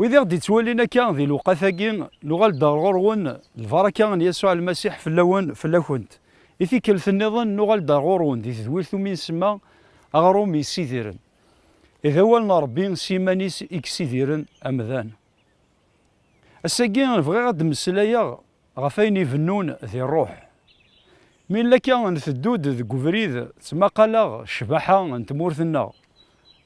Wid i ɣ-d-ittwalin akka di lewqat-agi, nuɣal-d ar ɣur-wen, lbaraka n Yasuɛ Lmasiḥ fell-awen, fell-akent. I tikkelt-nniḍen, nuɣal-d ar ɣur-wen di tedwilt umi nsemma Aɣrum Yessidiren. I d awal n Ṛebbi s yiman-is i yessidiren amdan. Ass-agi, bɣiɣ ad d-mmeslayeɣ Ɣef ayen ibennun di rruḥ. Mi nella akka nteddu-d deg ubrid, ttmaqaleɣ ccbaḥa n tmurt-nneɣ.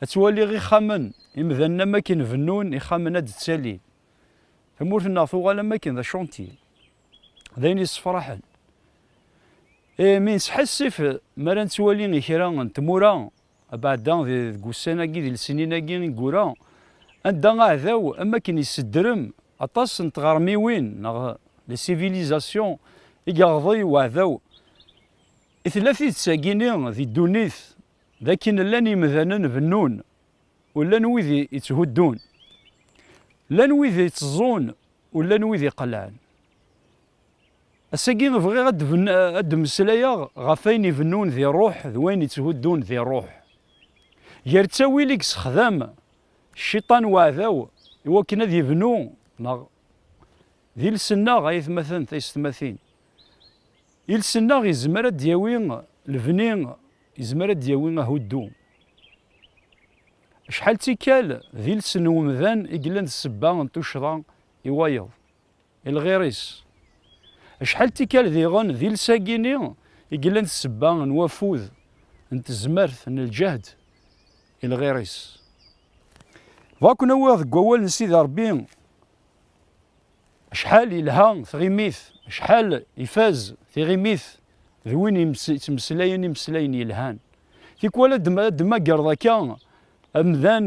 Ttwaliɣ ixxamen, imdanen am akken bennun ixxamen ad d-ttalin. Tamurt-nneɣ tuɣal am akken d acantye. D ayen yessefraḥen. Mi nesḥassif mi ara nettwali i kra n tmura Abeɛda deg wussan-agi d lsinin-agi i yura, anda aɛdaw am wakken yessedrem aṭas n tɣermiwin neɣ les civilisations i yeɣḍi weɛdaw, i tella tidet-agi-ni di ddunit d akken llan yemdanen bennun u llan wid yetthuddun, llan wid iteẓẓun u llan wid iqelɛen. Ass-agi bɣiɣ ad d-mmeslayeɣ ɣef wayen ibennun di rruḥ d wayen itthuddun di rruḥ. Gar ttawil i yessexdam cciṭan uɛdaw i wakken ad ibnu neɣ d iles-nneɣ, ay atmaten taysetmatin, iles-nneɣ yezmer ad d-yawi lebni, yezmer ad d-yawi ahuddu. Acḥal d tikkal d iles n umdan i yellan d ssebba n tuccḍa i wayeḍ. I lɣir-is. Acḥal n tikkal diɣen di lsag-ini i yellan d sebba n wafud, n tezmert, n lǧehd, i lɣir-is. Bɣa ken-awiɣ deg wawal n Sidi Rebbi, acḥal yelha tɣimit, acḥal ifaz tiɣimit d win yettmeslayen imeslayen yelhan. Tikwal ad d-temmagreḍ akka amdan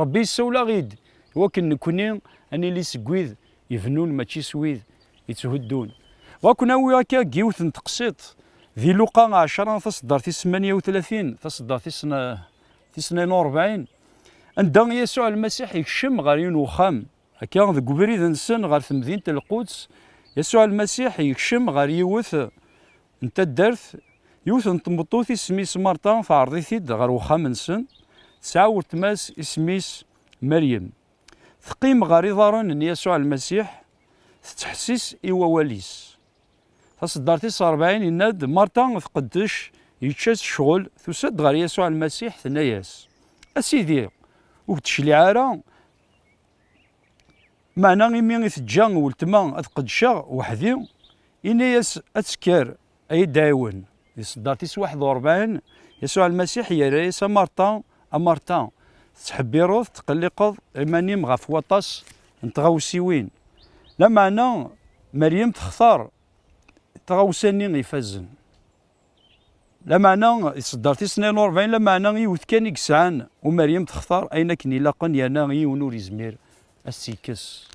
Ṛebbi yessawel-aɣ-id i wakken nekkni ad nili seg wid ibennun mačči s wid yetthuddun. Bɣa ken-awiɣ akka deg yiwet n teqsiḍt di Luqa ɛecra taṣeddart tis semanya u tlatin taṣeddart tis tnayen u rebɛin anda Yasuɛ Lmasiḥ ikcem ɣer yiwen uxxam. Akka deg ubrid-nsen ɣer temdint n Lquds, Yasuɛ Lmasiḥ ikcem ɣer yiwet n taddart, yiwet n tmeṭṭut isem-is Marta teɛreḍ-it-id ɣer uxxam-nsen, tesɛa weltma-s isem-is Meryem. Teqqim ɣer iḍarren n Yasuɛ Lmasiḥ, tettḥessis i wawal-is. Taṣeddart tis rebɛin yenna-d, Marta tqeddec, yečča-tt ccɣel, tusa-d ɣer Yasuɛ Lmasiḥ, tenna-yas, A Sidi, ur k-d-tecliɛ ara, Meɛna imi i teǧǧa weltma ad qeddceɣ weḥd-i, yenna-yas, Ad tekker, a yi-d-ɛiwen. Di ṣṣeddar tis waḥed u ṛebɛin, Yasuɛ Lmasiḥ yerra-yas, A Marta, a Marta, tettḥebbiṛeḍ, tettqelliqeḍ iman-im ɣef waṭas n tɣawsiwin. Lameɛna Meryem textaṛ taɣawsa-nni ifazen. Lameɛna, iṣedder tis tnayen u rebɛin, lameɛna yiwet kan i yesɛan, u Meryem textar ayen akken ilaqen yerna yiwen ur yezmir ad s-tt-yekkes.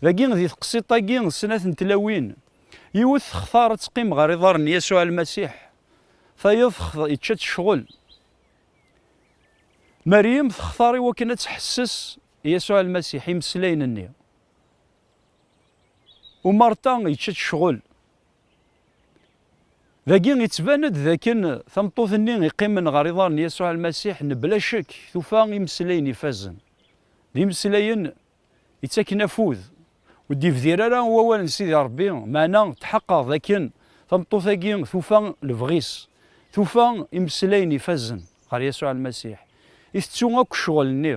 Dagi, di teqsiḍt-agi, snat n tlawin, yiwet textar ad teqqim ɣer iḍarren n Yasuɛ Lmasiḥ, tayeḍ textar yečča-tt ccɣel. Meryem textar i wakken ad tḥesses i Yasuɛ Lmasiḥ imeslayen-nni, u Marta yečča-tt ccɣel. Dagi, yettban-d d akken tameṭṭut-nni iqqimen ɣer iḍar n Yasuɛ Lmasiḥ mebla ccek tufa imeslayen ifazen. D imeslayen ittaken afud, ur d-ibdir ara i wawal n Sidi Rebbi, meɛna tḥeqqeɣ d akken tameṭṭut-agi tufa lebɣi-s, tufa imeslayen ifazen ɣer Yasuɛ Lmasiḥ, i tettu akk ccɣel-nni.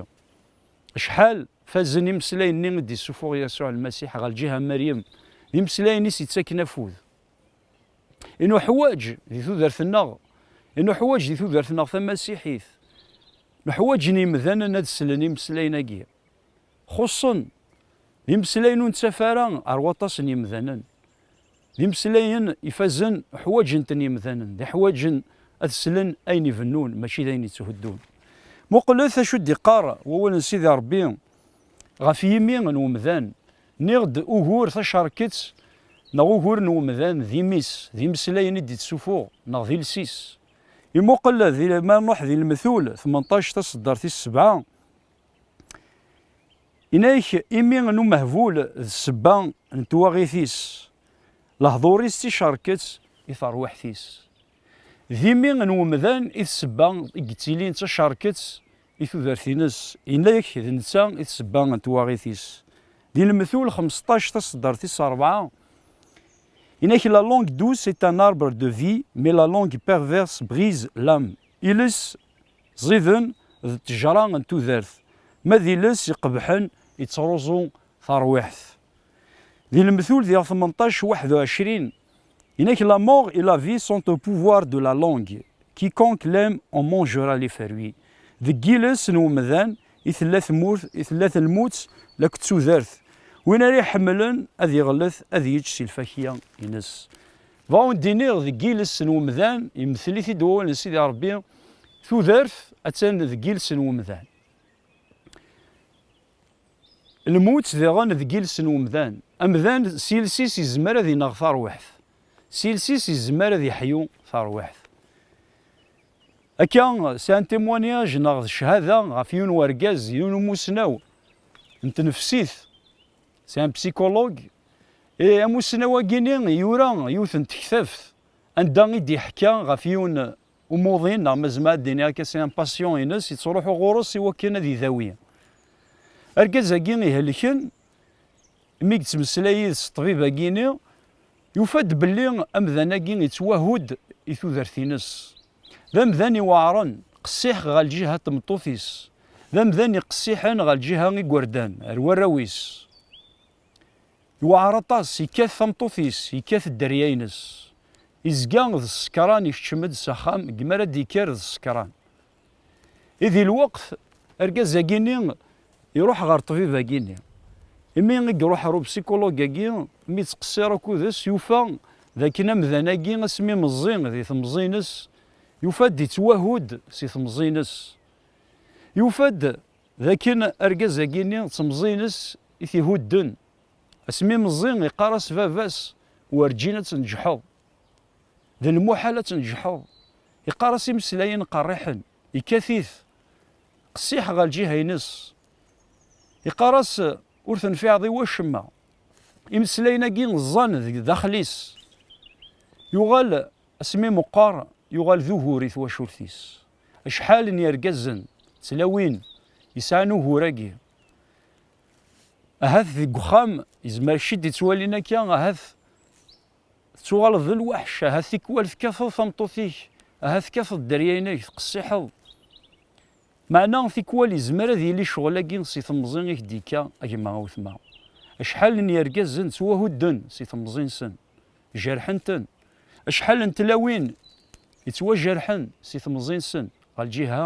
Acḥal Fazen imeslayen-nni i d-isufuɣ Yasuɛ Lmasiḥ ɣer lǧiha n Meryem, d imeslayen-is yettaken afud. I nuḥwaǧ di tudert-nneɣ, i nuḥwaǧ di tudert-nneɣ tamasiḥit, nuḥwaǧen yimdanen ad slen imeslayen-agi. Xuṣṣen, d imeslayen ur nettaf ara ar waṭas n yimdanen. D imeslayen ifazen ḥwaǧen-ten yemdanen, d iḥwaǧen ad slen ayen ibennun mačči d ayen yetthuddun. Muqlet acu i d-iqqar wawal n Sidi Ṛebbi ɣef yimi n umdan, Nniɣ-d ugur tacerkett neɣ ugur n umdan d imi-s, d imeslayen i d-ittsufuɣ neɣ d iles-is. Imuqel di, ma nṛuḥ di Lmetul tmenṭac taṣeddart tis sebɛa, Inek, imi n umehbul d ssebba n twaɣit-is, lehdur-is d ticerket i terwiḥt-is. D imi n umdan i d ssebba i yettilin d tacerket i tudert-ines, inek d netta i d ssebba n twaɣit-is. Di Lmetul xmesṭac taṣeddart tis rebɛa, Inek, la langue douce est un arbre de vie, mais la langue perverse brise l'âme. Iles, Ẓiden d ttejra n tudert, ma d iles iqebḥen yettruẓu tarwiḥt. Di lemtul diɣ tmenṭac waḥed u ɛecrin inek La mort et la vie sont au pouvoir de la langue, quiconque l'aime en mangera les fruits. Deg yiles n umdan i tella tmurt, i tella telmut lakk d tudert. Win ara iḥemmlen ad iɣellet ad yečč si lfakya-ines. Bɣa ur d-iniɣ deg yiles n umdan, yemtel-it-id wawal n Sidi Ṛebbi, tudert attan deg yiles n umdan. Lmut diɣen deg yiles n umdan. Amdan s yiles-is izmer ad ineɣ tarwiḥt. S yiles-is izmer ad iḥyu tarwiḥt. Akka, sɛan témoignage neɣ d cchada ɣef yiwen wergaz, yiwen umussnaw n tnefsit C'est un psychologue. Et amussnaw-agi-ni yura yiwet n tektabt anda i d-iḥka ɣef yiwen umuḍin neɣ ma zemɛeɣ ad d-iniɣ akka c'est un patient-ines yettruḥu ɣur-s iwakken ad idawi. Argaz-agi ihelken mi yettmeslay yid-s ṭṭbib-agi-ni yufa-d belli amdan-agi yettwahu-d i tudert-ines. D amdan iweɛren, qessiḥ ɣer lǧiha n tmeṭṭut-is, d amdan iqessiḥen ɣer lǧiha n yigerdan, ar warraw-is. Iweɛer aṭas, yekkat tameṭṭut-is, yekkat dderya-ines. Izga d ssekran, ikeččem-d s axxam, deg mi ara d-yekker d ssekran. I di lweqt, argaz-agi-nni Iruḥ ɣer ṭṭbib-agi-nni. Imi i iruḥ ɣer upsikulug-agi, mi yettqessir akud-is, yufa d akken amdan-agi asmi meẓẓi di temẓi-ines, yufa-d yettwahu-d si temẓi-ines. Yufa-d d akken argaz-agi-nni d temẓi-ines i t-ihudden. Asmi meẓẓi, iqqar-as baba-s, Werǧin ad tneǧḥeḍ. D lmuḥal ad tneǧḥeḍ. Iqqar-as imeslayen qerriḥen. yekkat-it qessiḥ ɣer lǧiha-ines. Iqqar-as, ur tenfiɛeḍ i wacemma. Imeslayen-agi ẓẓan deg daxel-is. Yuɣal asmi meqqar, yuɣal d ugur i twacult-is. Acḥal n yergazen, tlawin, yesɛan ugur-agi. Ahat deg uxxam, yezmer ciddi ttwalin akka, ahat Tettuɣaleḍ d lweḥc, ahat tikwal tekkateḍ tameṭṭut-ik, ahat tekkateḍ dderya-inek, teqsiḥeḍ. Meɛna tikwal yezmer ad yili ccɣel-agi si temẓi i k-d-yekka a gma a wetma. Acḥal n yergazen ttwahudden si temẓi-nsen, jerḥen-ten. Acḥal n tlawin yettwajerḥen si temẓi-nsen ɣer lǧiha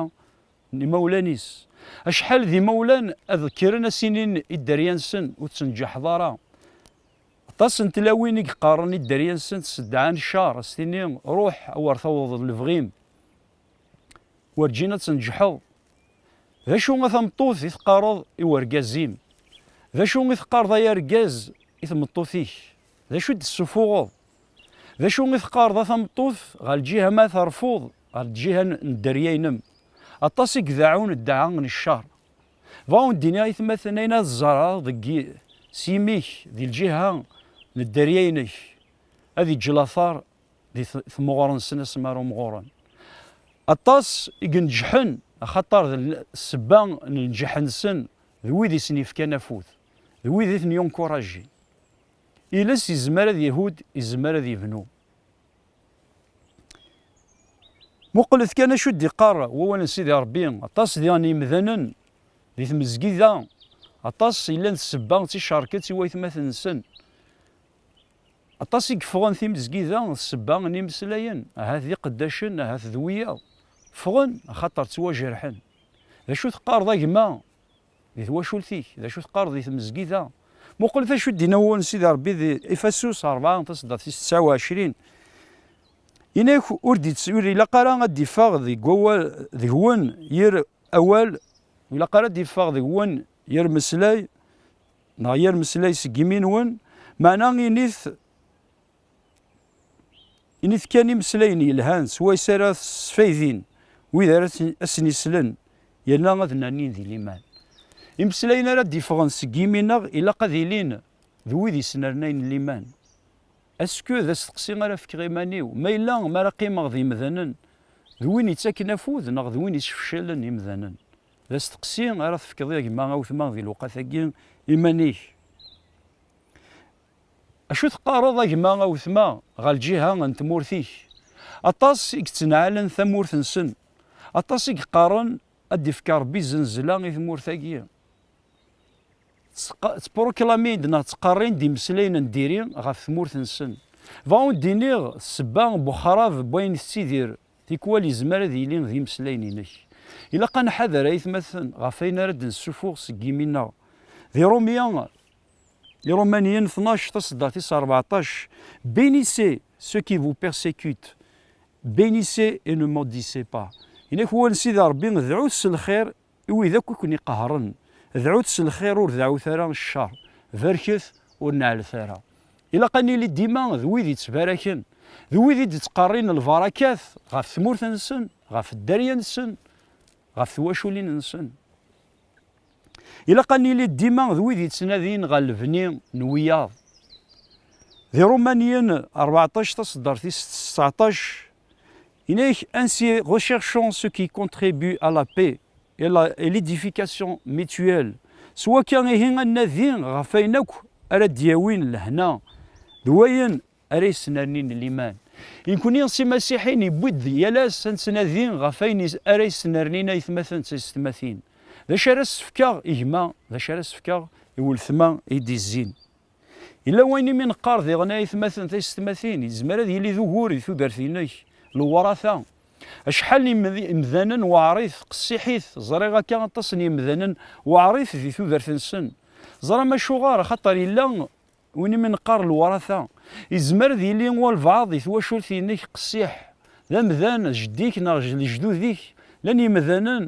n imawlan-is. Acḥal d imawlan ad kkren a s-inin i dderya-nsen ur ttenǧaḥeḍ ara. Aṭas n tlawin i yeqqaren i dderya-nsent s ddeɛɛa n ccer, a s-tini ruḥ a wer tawḍeḍ lebɣi-m, werǧin ad tneǧḥeḍ. D acu a tameṭṭut i teqqareḍ i wergaz-im? D acu i teqqareḍ ay argaz i tmeṭṭut-ik? D acu i d-tessufuɣeḍ? D acu i teqqareḍ a tameṭṭut ɣer lǧiha ma terfuḍ ɣer lǧiha n dderya-inem? Aṭas i ideɛɛun ddeɛɛa n ccer. Bɣa ur d-iniɣ i tmaten ayen ad ẓẓareɣ deg s yimi-k di lǧiha n dderya-inek, ad iǧǧ later di tmuɣer-nsen ass mi ara umɣuren. Aṭas i ineǧǧḥen, axaṭer d ssebba n lǧeḥ-nsen d wid i sen-yefkan afud, d wid i ten-yunkurajin. Iles izmer ad ihudd, izmer ad ibnu. Muqlet kan acu d-iqqar wawal n Sidi Ṛebbi, aṭas diɣen yimdanen di tmezgida, aṭas yellan d sebba d ticerket i waytmaten-nsen, aṭas i yeffɣen timezgida d sebba n yimeslayen, ahat d iqeddacen, ahat d wiyaḍ, ffɣen axaṭer ttwajerḥen. D acu teqqareḍ a gma? Di twacult-ik, d acu teqqareḍ di tmezgida? Muqlet acu d-inna wul n Sidi Rebbi di Ifasus rebɛa, taseddart tis tesɛa u ɛecrin. Yenna-ak ur d-itt, ur ilaq ara ad d-iffeɣ deg wawal deg-wen yir awal, ur ilaq ara ad d-iffeɣ deg-wen yir meslay, neɣ yir meslay seg imi-nwen, meɛna init Init kan imeslayen yelhan swayes ara sfaydin wid ara asen-islen yerna ad nannin di liman. Imeslayen ara d-iffɣen seg yimi-nneɣ ilaq ad ilin d wid yesnernayen liman. Est-ce que d asteqsi ara fkeɣ iman-iw, ma yella mi ara qqimeɣ d yemdanen d win yettaken afud neɣ d win yesfeclen imdanen? D asteqsi ara tefkeḍ a gma Awtma di lewqat-agi iman-ik. Acu teqqareḍ a gma a wetma ɣer lǧiha n tmurt-ik? Aṭas i yettneɛɛalen tamurt-nsen, aṭas i yeqqaren ad d-ifk Rebbi zznezla i tmurt-agi. Ttpruklamin-d neɣ ttqerrin-d imeslayen n diri ɣef tmurt-nsen. Bɣiɣ ad d-iniɣ ssebba n wexrab n wayen tettidir tikwal yezmer ad yili d imeslayen-inek. Ilaq ad nḥader aytmaten ɣef wayen ara d-nessufuɣ seg yimi-nneɣ. Di Rumya Les Romanien 12 tasedda tis rbeɛṭac Bénissez ceux qui vous persécutent Bénissez et ne maudissez pas Inak wan Sidi Rebbi dɛut s lxir i wid akk i ken-iqehren Dɛut s lxir ur deɛɛut ara ccer Barket ur neɛlet ara Ilaq ad nili dima d wid yettbaraken d wid i d-ittqerrin lbarakat ɣef tmurt-nsen, ɣef dderya-nsen, ɣef twaculin-nsen. Ilaq ad nili dima d wid yettnadin ɣer lebni n wiyaḍ. Di Rumanyen rbeɛṭac taṣeddart-is seɛṭac, yenna-ak Ainsi recherchons ce qui contribue à la paix et la et l'édification mutuelle, s wakka ihi ad nnadi ɣef wayen akk ara d-yawin lehna d wayen Ara yesnerni n liman. I nekni s imasiḥiyen yewwi-d deg yal ass ad nettnadi ɣef ayen ara yesnernin aytmaten d taysetmatin. D acu ara as-fkeɣ i gma, d acu ara as-fkeɣ i weltma i d-izzin? Yella wayen imi neqqar diɣen a aytmaten d taysetmatin, yezmer ad yili d ugur di tudert-inek, Lewrata. Acḥal n yimdanen weɛrit, qessiḥit, ẓriɣ akka aṭas n yimdanen weɛrit di tudert-nsen. Teẓram acuɣer? Axaṭer yella. Win i mi neqqar lwrata, yezmer ad yili walbeɛḍ di twacult-inek qessiḥ, d amdan, jeddi-k neɣ lejdud-ik, llan yimdanen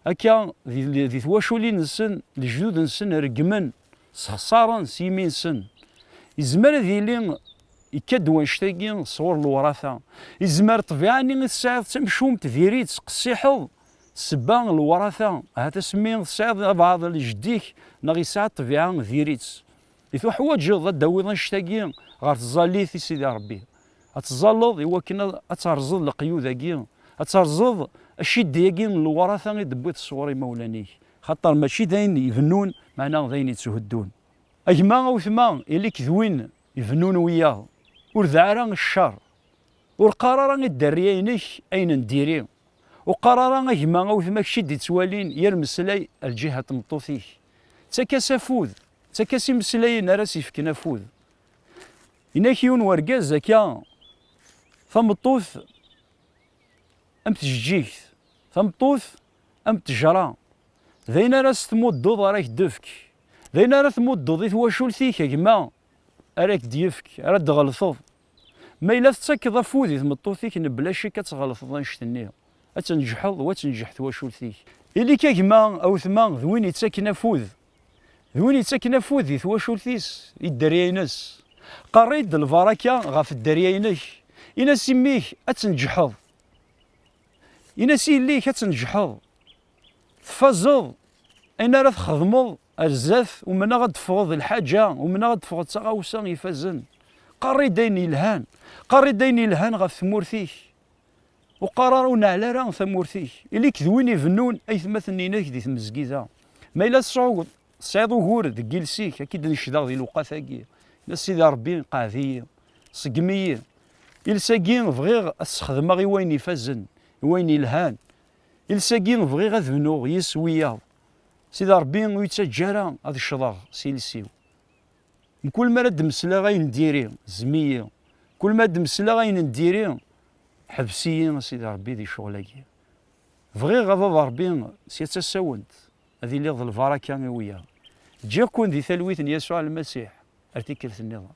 akka di twaculin-nsen, lejdud-nsen reggmen, ssexṣaren s yimi-nsen. Yezmer ad yili yekka-d wannect-agi sɣur lwrata. Yezmer ṭṭbiɛa-nni i tesɛiḍ d tamcumt, diri-tt, qessiḥeḍ, ssebba lwrata, ahat asmi tesɛiḍ abeɛḍ jeddi-k neɣ yesɛa ṭṭbiɛa, diri-tt. I tuḥwaǧeḍ ad d-tawiḍ annect-agi ɣer tẓallit i Sidi Ṛebbi, ad tẓalleḍ i wakken ad terẓeḍ leqyud-agi, ad terẓeḍ aciddi-agi n lewṛata i d-tewwiḍ sɣur imawlan-ik, xaṭer mačči d ayen ibennun, meɛna d ayen ittuheddun. A gma, a wetma, ili-k d win ibennun wiyaḍ, ur deɛ ara i cceṛ, ur qqar ara i dderrya-inek ayen n diri, ur qqar ara a gma, a wetma, kečč i d-ittwalin yir meslay ar lǧiha n tmeṭṭut-ik, ttak-as afud, D takka-s imeslayen ara s-ifken afud. Inak yiwen wergaz akka tameṭṭut am tjeǧǧigt, tameṭṭut am ttejra. D ayen ara s-tmuddeḍ ara k-d-tefk. D ayen ara tmuddeḍ i twacult-ik a gma ara k-d-yefk, ara d-tɣelteḍ. Ma yella tettakeḍ afud i tmeṭṭut-ik mebla ccek ad tɣelteḍ annect-nni, ad tneǧḥeḍ u ad tenǧeḥ twacult-ik. Ili-k a gma, a wetma d win ittaken afud d win yettakken afud di twacult-is, i dderya-ines. Qerri-d lbaraka ɣef dderya-inek, in-as i mmi-k ad tneǧḥeḍ, in-as i yelli-k ad tneǧḥeḍ, tfazeḍ ayen ara txedmeḍ ar zdat, umneɣ ad d-teffɣeḍ d lḥaǧa, umneɣ ad d-teffɣeḍ d taɣawsa ifazen. Qerri-d ayen yelhan, qerri-d ayen yelhan ɣef tmurt-ik. Ur qqar ara ur neɛli ara tamurt-ik. Ili-k d win ibennun aytmaten-inek di tmezgida. Ma yella tesɛuḍ, tesɛiḍ ugur deg yiles-ik, ad k-id-necdeɣ di lewqat-agi. Yenna Sidi Ṛebbi, Qɛed-iyi, ṣeggem-iyi. Iles-agi bɣiɣ ad t-sexdmeɣ i wayen ifazen, i wayen yelhan. Iles-agi bɣiɣ ad bnuɣ yis-s wiyaḍ. Sidi Ṛebbi ur yi-ttaǧǧa ara ad ccḍeɣ s yiles-iw. Mkul mi ara d-mesleɣ ayen n diri, zem-iyi. Kul mi ara d-mesleɣ ayen n diri, ḥbes-iyi, a Sidi Rebbi, di ccɣel-agi. Bɣiɣ, a Baba Rebbi, sya d tasawent, ad iliɣ d lbaraka i wiyaḍ. Ǧǧiɣ-ken di talwit n Yasuɛ Lmasiḥ ar tikkelt-nniḍen.